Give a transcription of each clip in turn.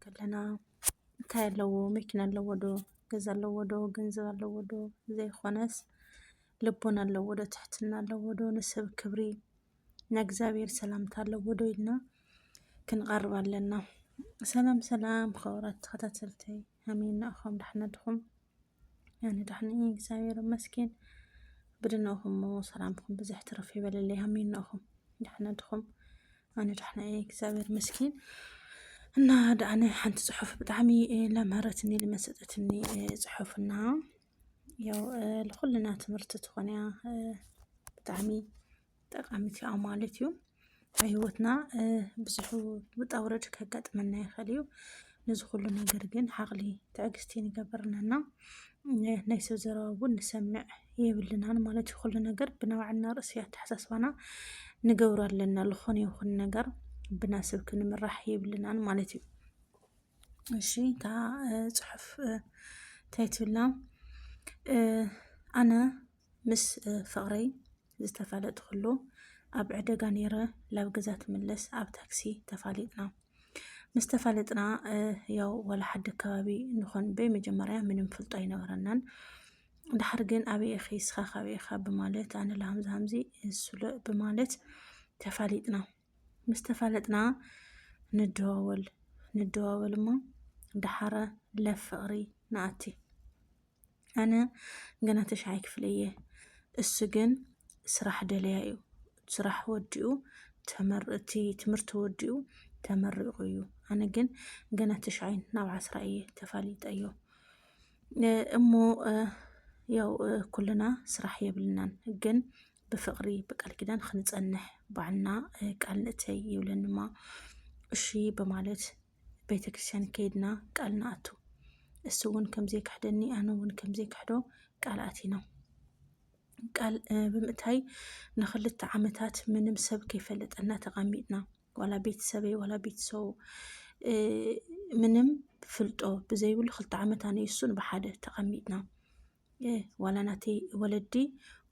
ከለና እንታይ ኣለዎ መኪና ኣለዎ ዶ ገዛ ኣለዎ ዶ ገንዘብ ኣለዎ ዶ ዘይኾነስ ልቦና ኣለዎ ዶ ትሕትና ኣለዎ ዶ ንሰብ ክብሪ ናይ እግዚኣብሔር ሰላምታ ኣለዎ ዶ ኢልና ክንቐርብ ኣለና። ሰላም ሰላም ኸብራት ተኸታተልተይ ሃመይ እናእኹም ዳሕና ድኹም ኣነ ደሕና እየ እግዚኣብሔር ይመስገን። ብድነኹም እሞ ሰላምኩም ብዝሕ ትርፍ ይበለለይ ኣሜናኹም ደሕና ድኹም ኣነ ደሕና እየ እግዚኣብሔር ይመስገን። እና ደኣነ ሓንቲ ፅሑፍ ብጣዕሚ ለምህረትኒ ልመሰጠትኒ ፅሑፍና ያው ልኩልና ትምህርቲ ትኾንያ ብጣዕሚ ጠቃሚት እያ ማለት እዩ ኣብ ሂወትና ብዙሕ ውጣ ውረድ ከጋጥመና ይኽእል እዩ ነዚ ኩሉ ነገር ግን ዓቕሊ ትዕግስቲ ንገብርናና ናይ ሰብ ዘረባ እውን ንሰምዕ የብልናን ማለት እዩ ኩሉ ነገር ብናባዕልና ርእሲ ኣተሓሳስባና ንገብሮ ኣለና ዝኾነ ይኹን ነገር ብናስብ ክንምራሕ የብልናን ማለት እዩ እሺ እታ ፅሑፍ እንታይ ትብላ ኣነ ምስ ፍቕረይ ዝተፋለጥክሉ ኣብ ዕደጋ ነይረ ላብ ገዛ ትምለስ ኣብ ታክሲ ተፋሊጥና ምስ ተፋለጥና ያው ዋላ ሓዲ ኣከባቢ ንኾን በይ መጀመርያ ምንም ፍልጦ ኣይነበረናን ድሓር ግን ኣበይ ኢኺ እስኻ ካበይ ኢኻ ብማለት ኣነ ለሃምዚ ሃምዚ እሱለ ብማለት ተፋሊጥና ምስ ተፋለጥና ንደዋወል ንደዋወል እሞ ድሓረ ለፍቕሪ ንኣቲ ኣነ ገና ተሽዓይ ክፍለ እየ እሱ ግን ስራሕ ደለያ እዩ ስራሕ ወዲኡ እቲ ትምህርቲ ወዲኡ ተመሪቑ እዩ ኣነ ግን ገና ተሽዓይ ናብ ዓስራ እየ ተፋሊጠ እዮ እሞ ያው ኩልና ስራሕ የብልናን ግን ብፍቕሪ ብቃል ኪዳን ክንፀንሕ ባዕልና ቃል ንእተይ ይብለንማ እሺ በማለት ቤተ ክርስቲያን ከይድና ቃል ንኣቱ እሱ እውን ከምዘይክሕደኒ ኣነ እውን ከምዘይክሕዶ ቃል ኣቲና ቃል ብምእታይ ንክልተ ዓመታት ምንም ሰብ ከይፈለጠና ተቐሚጥና ዋላ ቤተሰበይ ዋላ ቤተሰቡ ምንም ፍልጦ ብዘይብሉ ክልተ ዓመት ኣነ እሱን ብሓደ ተቐሚጥና ዋላ ናተይ ወለዲ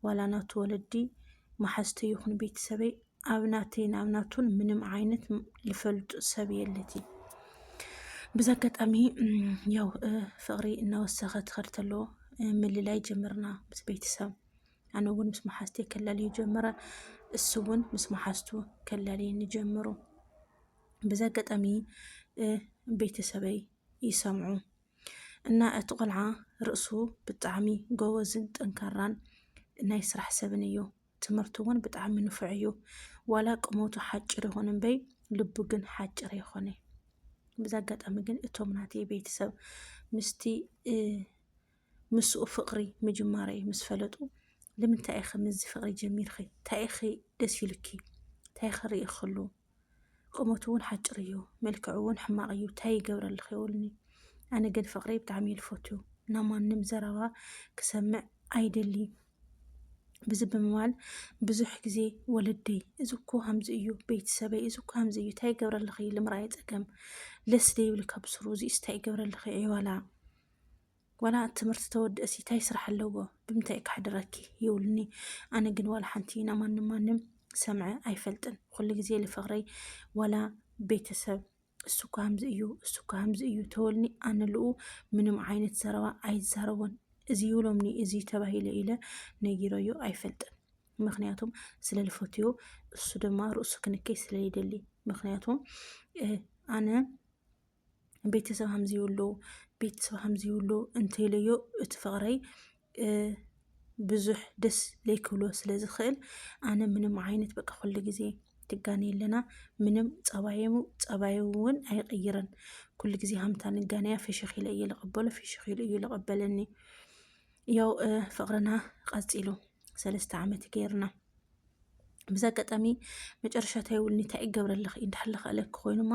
ዋላ ናቱ ወለዲ መሓዝተይ ይኹን ቤተሰበይ ኣብ ናተይን ኣብ ናቱን ምንም ዓይነት ልፈልጡ ሰብ የለት እዩ። ብዛ ኣጋጣሚ ያው ፍቕሪ እናወሰኸ ትኸድ ተሎ ምልላይ ጀምርና ምስ ቤተሰብ ኣነ እውን ምስ መሓዝተ ከላልዩ ጀመረ። እሱ እውን ምስ መሓዝቱ ከላልየ ንጀምሩ። ብዛ ኣጋጣሚ ቤተሰበይ ይሰምዑ እና እቲ ቆልዓ ርእሱ ብጣዕሚ ጎበዝን ጠንካራን ናይ ስራሕ ሰብን እዩ። ትምህርቱ እውን ብጣዕሚ ንፉዕ እዩ። ዋላ ቁመቱ ሓጭር ይኹን እምበይ ልቡ ግን ሓጭር ይኾነ። ብዛ ኣጋጣሚ ግን እቶም ናተይ ቤተሰብ ምስቲ ምስኡ ፍቅሪ ምጅማረይ ምስ ፈለጡ ንምንታይ ኢኺ ምስዚ ፍቅሪ ጀሚርኺ እንታይ ኢኺ ደስ ኢሉኪ እንታይ ኢኺ ርኢኽሉ ቁመቱ እውን ሓጭር እዩ መልክዑ እውን ሕማቅ እዩ ታይ ይገብረልኺ ይብሉኒ ኣነ ግን ፍቅሪ ብጣዕሚ እዩ ዝፈትው ናብ ማንም ዘረባ ክሰምዕ ኣይደልይን ብዚ ብምባል ብዙሕ ግዜ ወለደይ እዚ እኮ ከምዚ እዩ ቤተሰበይ እዚ እኮ ከምዚ እዩ ታይ ይገብረልኺ ልምርኣይ ፀገም ለስ ደይብልካ ብስሩ እዚኡስ ታይ ይገብረልኺ ዕዮላ ዋላ እቲ ትምህርቲ ተወድእሲ ታይ ስራሕ ኣለዎ ብምንታይ እዩ ከሕድረኪ ይብሉኒ ኣነ ግን ዋላ ሓንቲ ናብ ማንም ማንም ሰምዐ ኣይፈልጥን ኩሉ ግዜ ልፍቅረይ ዋላ ቤተሰብ እሱ እኮ ከምዚ እዩ እሱ እኮ ከምዚ እዩ ተወልኒ ኣነ ልኡ ምንም ዓይነት ዘረባ ኣይዛረቦን እዚ ይብሎምኒ እዚ ተባሂለ ኢለ ነጊረዮ ኣይፈልጥን ምክንያቱም ስለ ልፈትዮ እሱ ድማ ርእሱ ክንከይ ስለይደሊ ምክንያቱም ኣነ ቤተሰብ ከምዚ ይብሉ ቤተሰብ ከምዚ ይብሉ እንተይለዮ እቲ ፍቕረይ ብዙሕ ደስ ለይክብሎ ስለ ዝኽእል ኣነ ምንም ዓይነት በቃ ኩሉ ግዜ ትጋነ ኣለና ምንም ፀባዩ ፀባዩ እውን ኣይቕይርን ኩሉ ግዜ ሃምታ ንጋነያ ፍሽኽ ኢለ እየ ልቕበሎ ፍሽኽ ኢሉ እዩ ልቕበለኒ ያው ፍቕርና ቐፂሉ ሰለስተ ዓመት ገይርና ብዛ ኣጋጣሚ መጨረሻ እንታይ ይብሉኒ እንታይ እዩ ገብረለኺ እንዳሕለ ክእለኪ ኮይኑማ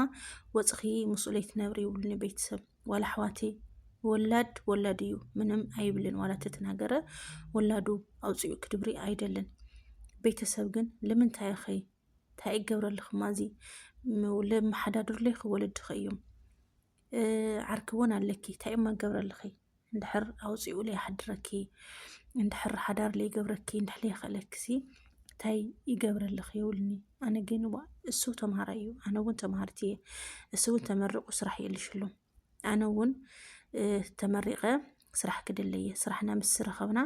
ወፅኺ ምስኡ ለይትነብሪ ይብሉኒ ቤተሰብ ዋላ ኣሕዋቲ ወላድ ወላድ እዩ ምንም ኣይብልን ዋላ ተተናገረ ወላዱ ኣውፅኡ ክድብሪ ኣይደልን ቤተሰብ ግን ልምንታይ ኸ እንታይ ይገብረልኽማ እዚ ለመሓዳድርለይ ክወለድኺ እዮም ዓርኪ እውን ኣለኪ እንታይ እሞ ገብረልኺ እንድሕር ኣውፂኡ ለይሓድረኪ እንድሕር ሓዳር ለይገብረኪ እንድሕር ለይኸለኪ ሲ እንታይ ይገብረልኺ ይብሉኒ ኣነ ግን ዋ እሱ ተምሃራይ እዩ ኣነ እውን ተምሃሪት እየ እሱ እውን ተመሪቑ ስራሕ የልሽ ኣሎ ኣነ እውን ተመሪቐ ስራሕ ክደለ እየ ስራሕና ምስ ዝረኸብና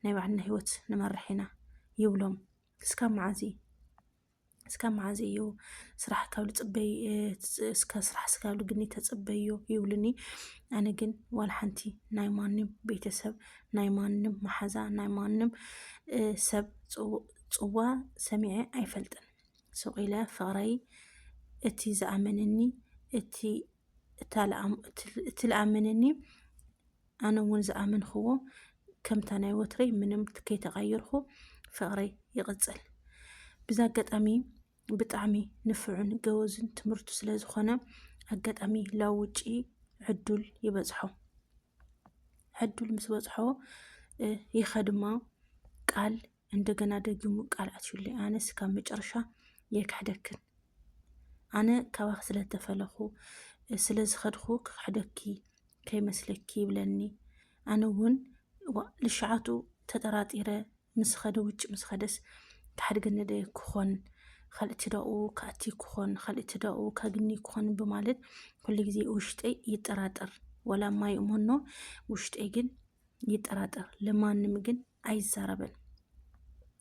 ናይ ባዕልና ሂወት ንመርሕ ኢና ይብሎም እስካብ መዓዝ እዩ እስካብ መዓዝ እዩ ስራሕ ካብ ልፅበይ እስካብ ስራሕ እስካብ ልግኒ ተፅበዮ ይብሉኒ ኣነ ግን ዋላ ሓንቲ ናይ ማንም ቤተሰብ ናይ ማንም መሓዛ ናይ ማንም ሰብ ፅዋ ሰሚዐ ኣይፈልጥን ሱቅ ኢለ ፍቅረይ እቲ ዝኣመነኒ እቲ እቲ ልኣመነኒ ኣነ እውን ዝኣመንክዎ ከምታ ናይ ወትረይ ምንም ከይተቐይርኩ ፍቕረይ ይቕፅል። ብዛ ኣጋጣሚ ብጣዕሚ ንፍዑን ገወዝን ትምህርቱ ስለ ዝኾነ ኣጋጣሚ ላብ ውጪ ዕዱል ይበፅሖ ዕዱል ምስ በፅሖ ይኸድማ ቃል እንደገና ደጊሙ ቃል ኣትዩሉ ኣነስ ካብ መጨረሻ የክሕደክን ኣነ ካባኺ ስለተፈለኹ ስለዝኸድኹ ክክሕደኪ ከይመስለኪ ይብለኒ ኣነ እውን ልሸዓቱ ተጠራጢረ ምስ ኸደ ውጭ ምስ ኸደስ ክሓድገኒ ደ ክኾን ካልእ ትዳኡ ክኣቲ ክኾን ካልእ ትዳኡ ከግኒ ክኾን ብማለት ኩሉ ግዜ ውሽጠይ ይጠራጠር ወላ ማይ እሞኖ ውሽጠይ ግን ይጠራጠር፣ ለማንም ግን ኣይዛረብን።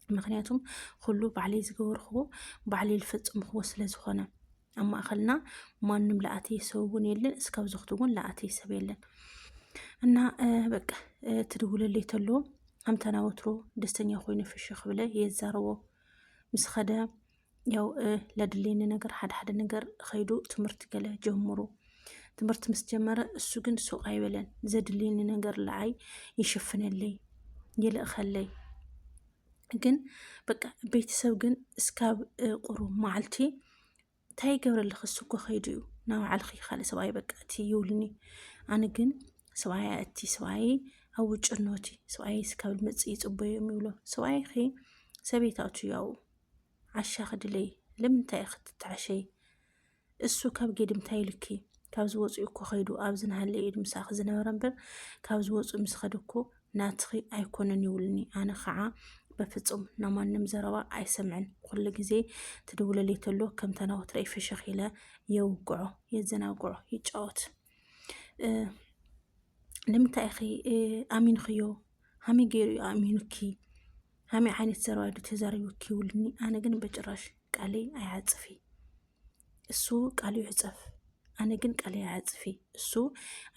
ምክንያቱም ኩሉ ባዕለይ ዝገበርክዎ ባዕለይ ዝፈፀምክዎ ስለ ዝኾነ ኣብ ማእኸልና ማንም ለኣተየ ሰብ እውን የለን፣ እስካብ ዝኽቲ እውን ለኣተየ ሰብ የለን እና በቃ ትድውለለይ ተሎ ኣምተና ወትሮ ደስተኛ ኮይኑ ፍሽኽ ብለ የዛረቦ ምስ ኸደ ያው ለድሌኒ ነገር ሓደ ሓደ ነገር ኸይዱ ትምህርቲ ገለ ጀምሩ ትምህርቲ ምስ ጀመረ እሱ ግን ሱቅ ኣይበለን ዘድልየኒ ነገር ለዓይ ይሽፍነለይ ይልእኸለይ ግን በቃ ቤተሰብ ግን እስካብ ቁሩ መዓልቲ እንታይ ይገብረልኺ እሱ እኮ ኸይዱ እዩ ናብ ባዕልኺ ካልእ ሰብኣይ በቃ እቲ ይብሉኒ ኣነ ግን ሰብኣይ እቲ ሰብኣይ ኣብ ውጭ ኖቲ ሰብኣይ እስካብ መፅእ ይፅበዮም ይብሎ ሰብኣይኺ ሰበይታቱ ያው ዓሻ ክድለይ ለምንታይ ኢኺ ትተዓሸይ እሱ ካብ ጌድም እንታይ ኢሉኪ ካብ ዝወፅኡ እኮ ከይዱ ኣብዚ ናሃለ ኢድ ምሳኺ ዝነበረ እምበር ካብ ዝወፁ ምስ ኸደ እኮ ናትኺ ኣይኮነን ይብሉኒ ኣነ ከዓ በፍፁም ናብ ማንም ዘረባ ኣይሰምዕን ኩሉ ግዜ ትድውለለይ ተሎ ከም ተናወት ረይ ፍሽኽ ኢለ የውግዖ የዘናግዖ ይጫወት ንምንታይ ኢኺ ኣሚንኽዮ ሃመይ ገይሩ ኣሚኑኪ ሃመይ ዓይነት ሰብኣይ ዶ ተዛሪቡኪ ይብሉኒ። ኣነ ግን በጭራሽ ቃለይ ኣይዓፅፊ እሱ ቃሉ ይዕፀፍ፣ ኣነ ግን ቃለይ ኣይዓፅፊ እሱ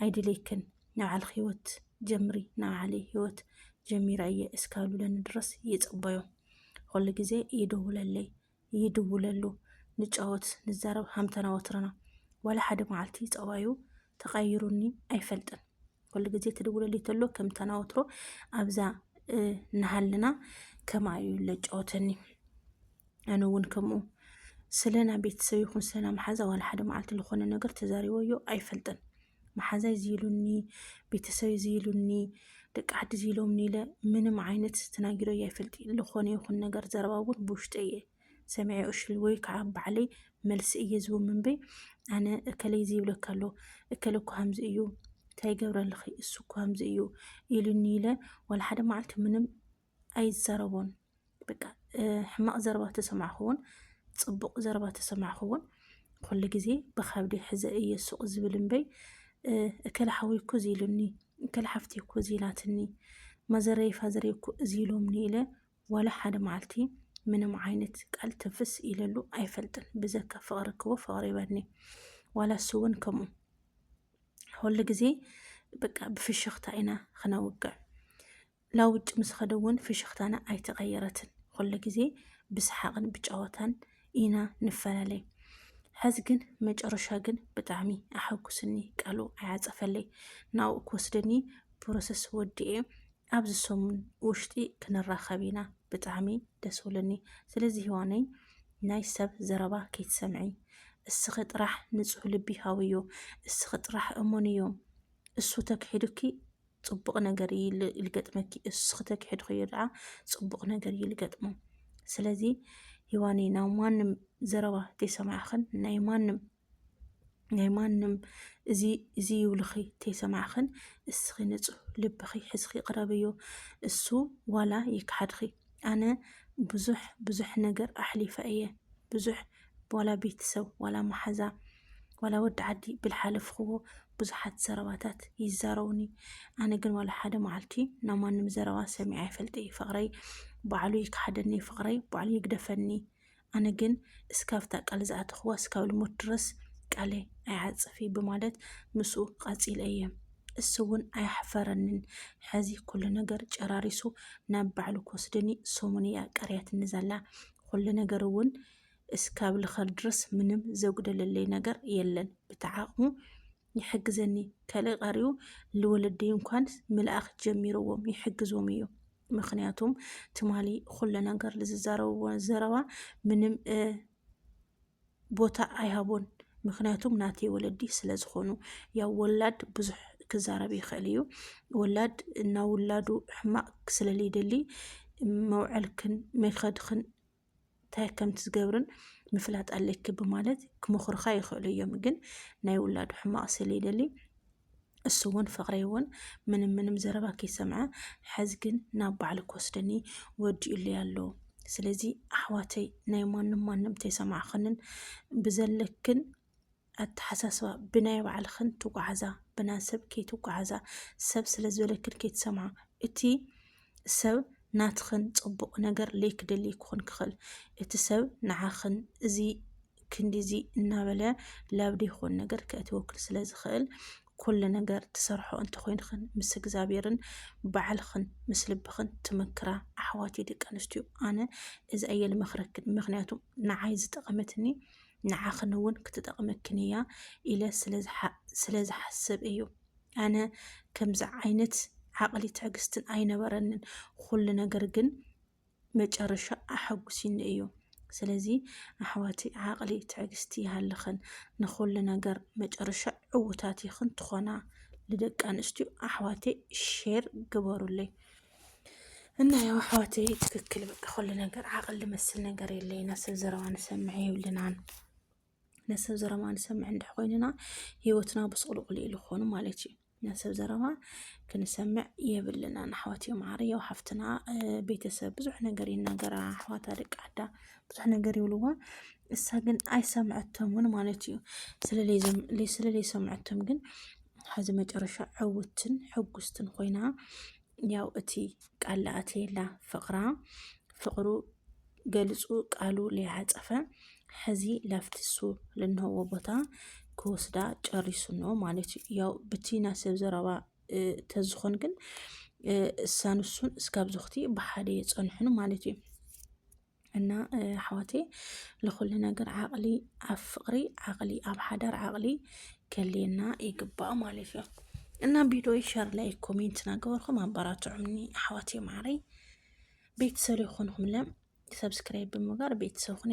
ኣይድልየክን ንዓልክ ህይወት ጀምሪ ንዓለይ ህይወት ጀሚራ እየ እስካሉለኒ ድረስ ይፅበዮም። ኩሉ ግዜ ይደውለለይ ይድውለሉ፣ ንጫወት፣ ንዛረብ ሃምተና ወትርና። ዋላ ሓደ መዓልቲ ፀባዩ ተቐይሩኒ ኣይፈልጥን። ኩሉ ግዜ ትድውለሉ ተሎ ከምተና ወትሮ ኣብዛ እናሃለና ከምኣ እዩ ለጫወተኒ ኣነ እውን ከምኡ ስለና ቤተሰብ ይኹን ስለና መሓዛ ዋላ ሓደ መዓልቲ ዝኾነ ነገር ተዛሪበዮ ኣይፈልጥን። መሓዛይ እዚ ኢሉኒ፣ ቤተሰበይ እዚ ኢሉኒ፣ ደቂ ዓዲ እዚ ኢሎምኒ ኢለ ምንም ዓይነት ተናጊሮ እየ ኣይፈልጥ ዝኾነ ይኹን ነገር ዘረባ እውን ብውሽጠ እየ ሰሚዐ እሽል ወይ ከዓ ባዕለይ መልሲ እየ ዝቡ ምንበይ ኣነ እከለይ እዚ ይብለካ ኣሎ እከለ እኮ ከምዚ እዩ እንታይ ይገብረልኺ እሱ እኮ ከምዚ እዩ ኢሉኒ ኢለ ዋላ ሓደ መዓልቲ ምንም ኣይዛረቦን በቃ ሕማቕ ዘረባ ተሰማዕኹውን ፅቡቕ ዘረባ ተሰማዕኹውን ኩሉ ግዜ ብካብዲ ሕዘ እየ ሱቕ ዝብል እምበይ እከለ ሓወይ እኮ እዚ ኢሉኒ እከለ ሓፍተይ እኮ እዚ ኢላትኒ ማዘረይ ፋዘረይ እኮ እዚ ኢሎምኒ ኢለ ዋላ ሓደ መዓልቲ ምንም ዓይነት ቃል ትንፍስ ኢለሉ ኣይፈልጥን ብዘካ ፍቕሪ ክቦ ፍቕሪ ይበኒ ዋላ እሱ እውን ከምኡ ኩሉ ግዜ በቃ ብፍሽኽታ ኢና ክነውግዕ ናብ ውጭ ምስ ኸደ እውን ፍሽኽታና ኣይተቐየረትን። ኩሉ ግዜ ብሰሓቕን ብጨወታን ኢና ንፈላለይ። ሕዚ ግን መጨረሻ ግን ብጣዕሚ ኣሐጉስኒ ቃሉ ኣይዓፀፈለይ ናብኡ ክወስደኒ ፕሮሰስ ወዲኤ ኣብዚ ሰሙን ውሽጢ ክንራኸብ ኢና ብጣዕሚ ደስ ብለኒ ስለዚ ሂዋነይ ናይ ሰብ ዘረባ ከይትሰምዒ እስኺ ጥራሕ ንፁህ ልቢ ሃብዮ እስኺ ጥራሕ እመንዮ እሱ ተክሒዱኪ ፅቡቕ ነገር እዩ ልገጥመኪ እስኺ ተኪሕድኽዮ ድኣ ፅቡቕ ነገር እዩ ልገጥሞ ስለዚ ሂዋኒ ናብ ማንም ዘረባ ተይሰማዕኽን ናይ ማንም ናይ ማንም እዚ እዚ ይብልኺ ተይሰማዕኽን እስኺ ንፁህ ልብኺ ሕዝኺ ቅረብዮ እሱ ዋላ ይክሓድኺ ኣነ ብዙሕ ብዙሕ ነገር ኣሕሊፈ እየ ብዙሕ ዋላ ቤተሰብ ዋላ መሓዛ ዋላ ወዲ ዓዲ ብልሓለፍኽዎ ብዙሓት ዘረባታት ይዛረቡኒ ኣነ ግን ዋላ ሓደ መዓልቲ ናብ ማንም ዘረባ ሰሚዐ ኣይፈልጥ እዩ ፍቅረይ ባዕሉ ይከሓደኒ ፍቅረይ ባዕሉ ይግደፈኒ ኣነ ግን እስካብታ ቃል ዝኣተኽዋ እስካብ ልሞት ድረስ ቃለይ ኣይዓፅፍ እዩ ብማለት ምስኡ ቃፂለ እየ እሱ እውን ኣያሕፈረንን ሕዚ ኩሉ ነገር ጨራሪሱ ናብ ባዕሉ ክወስደኒ ሰሙን እያ ቀርያትኒ ዘላ ኩሉ ነገር እውን እስካብ ልኸል ድረስ ምንም ዘጉደለለይ ነገር የለን ብተዓቕሙ ይሕግዘኒ ከልእ ቐሪኡ ልወለደይ እንኳን ምልኣኽ ጀሚርዎም ይሕግዞም እዩ ምክንያቱም ትማሊ ኩለ ነገር ልዝዛረብዎ ዘረባ ምንም ቦታ ኣይሃቦን ምክንያቱም ናተይ ወለዲ ስለ ዝኾኑ ያው ወላድ ብዙሕ ክዛረብ ይኽእል እዩ ወላድ እና ውላዱ ሕማቅ ስለልይደሊ መውዐልክን መኸድክን እንታይ ከም ትዝገብርን ምፍላጥ ኣለኪ ብማለት ክመኽሩኻ ይኽእሉ እዮም። ግን ናይ ውላዱ ሕማቕ ስለይደሊ እሱ እውን ፍቕሪ እውን ምንም ምንም ዘረባ ከይሰምዐ ሕዝ ግን ናብ ባዕሉ ክወስደኒ ወዲኡለይ ኣሎ። ስለዚ ኣሕዋተይ ናይ ማንም ማንም ተይሰማዕኽንን ብዘለክን ኣተሓሳስባ ብናይ ባዕልኽን ትጓዓዛ ብና ሰብ ከይትጓዓዛ ሰብ ስለ ዝበለክን ከይትሰምዓ እቲ ሰብ ናትኽን ፅቡቕ ነገር ለይክደልይ ክኾን ክኽእል እቲ ሰብ ንዓኽን እዚ ክንዲዚ እናበለ ላብ ዘይኮን ነገር ከእትወክል ስለ ዝኽእል ኩሉ ነገር ትሰርሖ እንተኮይንኽን ምስ እግዚኣብሔርን ባዕልኽን ምስ ልብኽን ትመክራ ኣሕዋት ደቂ ኣንስትዮ ኣነ እዚ ኣየ ልመክረክን ምክንያቱ ንዓይ ዝጠቐመትኒ ንዓኽን እውን ክትጠቕመክን እያ ኢለ ስለ ዝሓስብ እዩ። ኣነ ከምዚ ዓይነት ዓቕሊ ትዕግስትን ኣይነበረንን። ኩሉ ነገር ግን መጨረሻ ኣሐጉሲኒ እዩ። ስለዚ ኣሕዋቲ ዓቕሊ ትዕግስቲ ይሃልኽን፣ ንኹሉ ነገር መጨረሻ ዕውታት ይኽን ትኾና። ንደቂ ኣንስትዮ ኣሕዋተይ ሼር ግበሩለይ። እና ያው ኣሕዋተይ ትክክል በቃ ኩሉ ነገር ዓቅል ዝመስል ነገር የለ ኢና ሰብ ዘረባ ንሰምዐ የብልናን ነሰብ ዘረባ ንሰምዐ እንድሕ ኮይንና ሂወትና ብስቁልቁል ኢሉ ክኾኑ ማለት እዩ ነሰብ ዘረባ ክንሰምዕ የብልናን ኣሕዋት እዮም ዓር ያው ሓፍትና ቤተሰብ ብዙሕ ነገር ይናገራ ኣሕዋታ ደቂ ዓዳ ብዙሕ ነገር ይብልዋ እሳ ግን ኣይሰምዐቶምን ማለት እዩ ስለለይ ሰምዐቶም ግን ሐዚ መጨረሻ ዕውትን ሕጉስትን ኮይና ያው እቲ ቃል ለኣትየላ ፍቕራ ፍቕሩ ገልፁ ቃሉ ሊያፀፈ ሐዚ ላፍቲ እሱ ልንሀዎ ቦታ ክወስዳ ጨሪሱ ነው ማለት እዩ። ያው ብቲ ናይ ሰብ ዘረባ ተዝኾን ግን እሳን እሱን እስካብ ዝኽቲ ብሓደ የፀንሑን ማለት እዩ። እና ኣሕዋተይ ንኹሉ ነገር ዓቕሊ ኣብ ፍቕሪ ዓቕሊ ኣብ ሓዳር ዓቕሊ ከልየና ይግባእ ማለት እዩ እና ቪዲዮ ሸር ላይ ኮሜንት ናገበርኩም ኣበራትዑኒ ኣሕዋተይ ማዕረይ ቤተሰብ ይኹንኹም ለም ሰብስክራይብ ብምግባር ቤተሰብ ኹን